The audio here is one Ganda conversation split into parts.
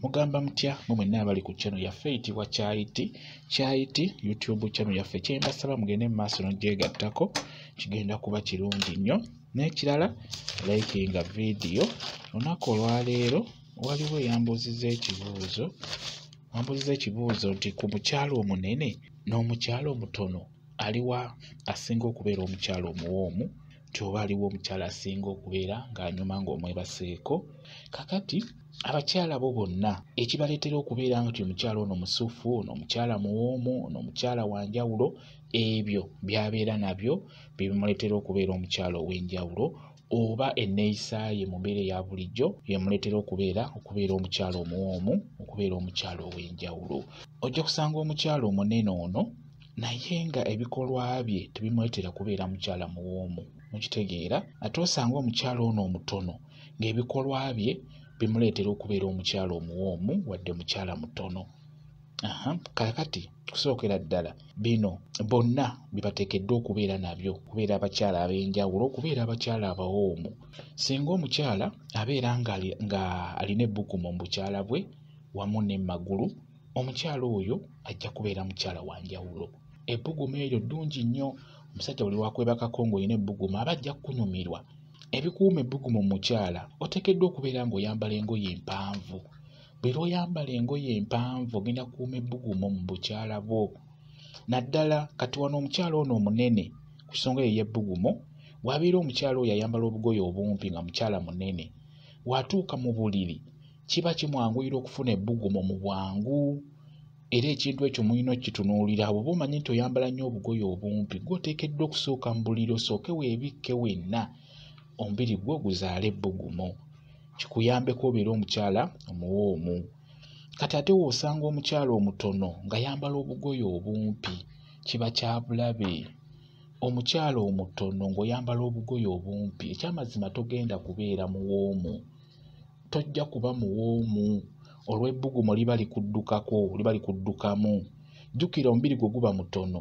mugamba mutya mwe mwenna abali ku channel yaffe eyitibwa kyayiti kyayiti youtube channel yaffe kyembasaba mugende mu maaso nogyegattako kigenda kuba kirungi nnyo n'ekirala likinga vidiyo olunaku olwaleero waliwo eyambuuziza ekibuuzo ambuuziza ekibuuzo nti ku mukyalo omunene n'omukyalo omutono aliwa asinga okubeera omukyalo omuwoomu nti oba aliwo omukyala asinga okubeera ng'anyuma ng'omwebaseeko kakati abakyala bo bonna ekibaleetera okubeera nga ti omukyala ono musufu ono omukyala muwoomu ono omukyala wa njawulo ebyo byabeera nabyo bye bimuleetera okubeera omukyala ow'enjawulo oba enneeyisa ye mu mbeera eya bulijjo yemuleetera okubeera okubeera omukyala omuwoomu okubeera omukyala ow'enjawulo ojja kusanga omukyala omunene ono naye nga ebikolwa bye tebimuleetera kubeera mukyala muwoomu mukitegeera ate osanga omukyala ono omutono ng'ebikolwa bye bimuleetera okubeera omukyala omuwoomu wadde mukyala mutono kakati kusookera ddala bino bonna bibateekeddwa okubeera nabyo okubeera abakyala ab'enjawulo okubeera abakyala abawoomu singa omukyala abeera ng'alina ebbugumu mu bukyala bwe wamu ne magulu omukyala oyo ajja kubeera mukyala wa njawulo ebbugumu eryo ddungi nnyo omusajja buli wakwebakako ng'olina ebbugumu aba ajja kukunyumirwa ebikuuma ebbugumu mukyala oteekeddwa okubeera ng'oyambala engoye empanvu buli lwoyambala engoye empanvu ogenda kuuma ebbugumu mu bukyala bwo naddala kati wano omukyala ono omunene ku nsonga eyo y'ebbugumu wabeera omukyala oyo ayambala obugoye obumpi nga mukyala munene watuuka mu buliri kiba kimwanguyira okufuna ebbugumu mu bwangu era ekintu ekyo mulina okukitunuulira abo oba omanyi nti oyambala nnyo obugoye obumpi gwoteekeddwa okusooka mu buliri osooke weebikke wenna omubiri gwo guzaala ebbugumu kikuyambeko obeera omukyala omuwoomu kati ate woosanga omukyala omutono nga yambala obugoye obumpi kiba kyabulabe omukyala omutono ng'oyambala obugoye obumpi ekyamazima togenda kubeera muwoomu tojja kuba muwoomu olw'ebbugumu liba likuddukako liba likuddukamu jjukira omubiri gwe guba mutono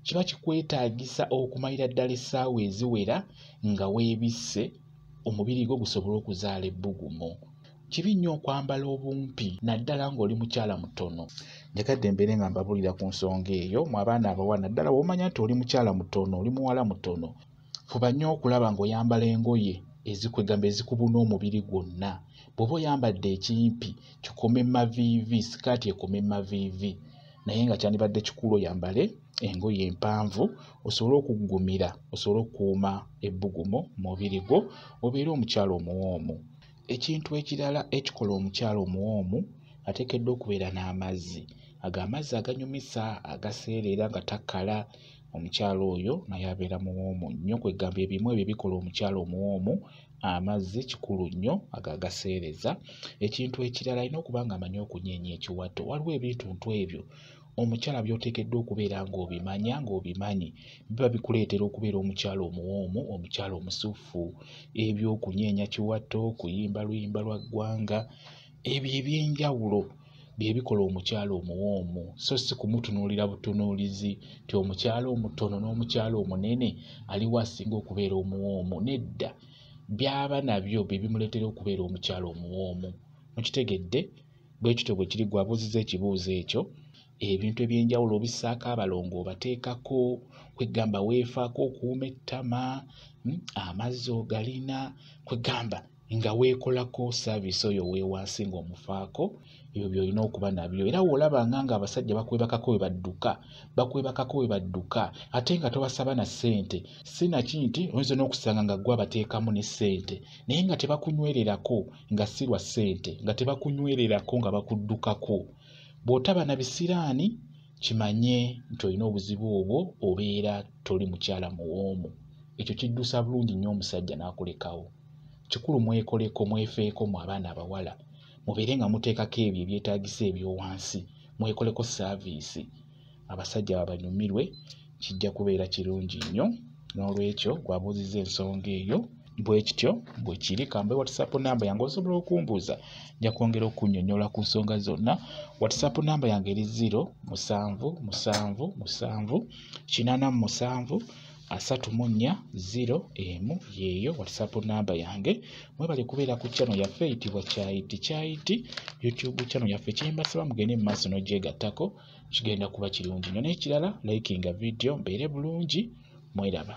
kiba kikwetaagisa okumalira ddala essaawa eziwera nga weebisse omubiri gwo gusobole okuzaala ebbugumu kibi nnyo okwambala obumpi naddala ng'oli mukyala mutono njagadde mbeere nga mbabuulira ku nsonga eyo mu abaana abawa naddala womanya nti oli mukyala mutono oli muwala mutono fuba nnyo okulaba ng'oyambala engoye ezikwegamba ezikubuna omubiri gwonna bw'oba oyambadde ekimpi kikome maviivi sikaati ekome maviivi naye nga kyandibadde kikulu oyambale engoye empanvu osobole okuggumira osobole okukuuma ebbugumu mu mubiri gwo obeere omukyala omuwoomu ekintu ekirala ekikola omukyala omuwoomu ateekeddwa okubeera n'amazzi ago amazzi aganyumisa agaseereera nga takala omukyala oyo naye abeera muwoomu nnyo kwegamba ebimu ebyo bikola omukyala omuwoomu amazzi kikulu nnyo ago agaseereza ekintu ekirala alina okuba nga amanyi okunyeenya ekiwato waliwo ebintuntu ebyo omukyala byoteekeddwa okubeera ng'obimanya ng'obimanyi biba bikuleetera okubeera omukyala omuwoomu omukyala omusuffu ebyokunyeenya kiwato kuyimba luyimba lwa ggwanga ebyo ebyenjawulo bye bikola omukyala omuwoomu so si kumutunuulira butunuulizi nti omukyala omutono n'omukyala omunene aliwo asinga okubeera omuwoomu nedda byaba nabyo bye bimuleetera okubeera omukyala omuwoomu mukitegedde bwe kityo bwe kiri gwe abuuziza ekibuuzo ekyo ebintu ebyenjawulo obissaako abalongo obateekako kwegamba weefaako okuuma ettama hmm, amazzi ogalina kwegamba nga weekolako saaviisi oyo weewansi ng'omufaako ebyo byolina okuba nabyo era woolabanga nga abasajja bakwebakako we badduka bakwebakako we badduka ate nga tobasaba na ssente si naki nti oyinza n'okusanga nga ggwe abateekamu ne ssente naye nga tebakunywererako nga si lwa ssente nga tebakunywererako nga bakuddukako bw'otaba na bisiraani kimanye nti olina obuzibu obwo obeera toli mukyala muwoomu ekyo kiddusa bulungi nnyo omusajja n'akulekawo kikulu mwekoleko mwefeeko mu abaana abawala mubeere nga muteekako ebyo ebyetagisa ebyowansi mwekoleko saaviisi abasajja babanyumirwe kijja kubeera kirungi nnyo n'olwekyo gwabuuziza ensonga eyo bwe kityo bwe kiri kambe whatsapp namba yange osobola okumbuuza nja kwongera okunyonyola ku nsonga zonna whatsapp namba yange eri 0 musanvu musanvu musanvu kinana mu musanvu asatu mu nnya ziro emu yeeyo whatsapp namba yange mwebale kubeera ku channel yaffe eyitibwa kyayiti kyayiti youtube channel yaffe kyembasaba mugende mu maaso n'ogyegattako kigenda kuba kirungi nyo n'ekirala likinga vidiyo mbeere bulungi mweraba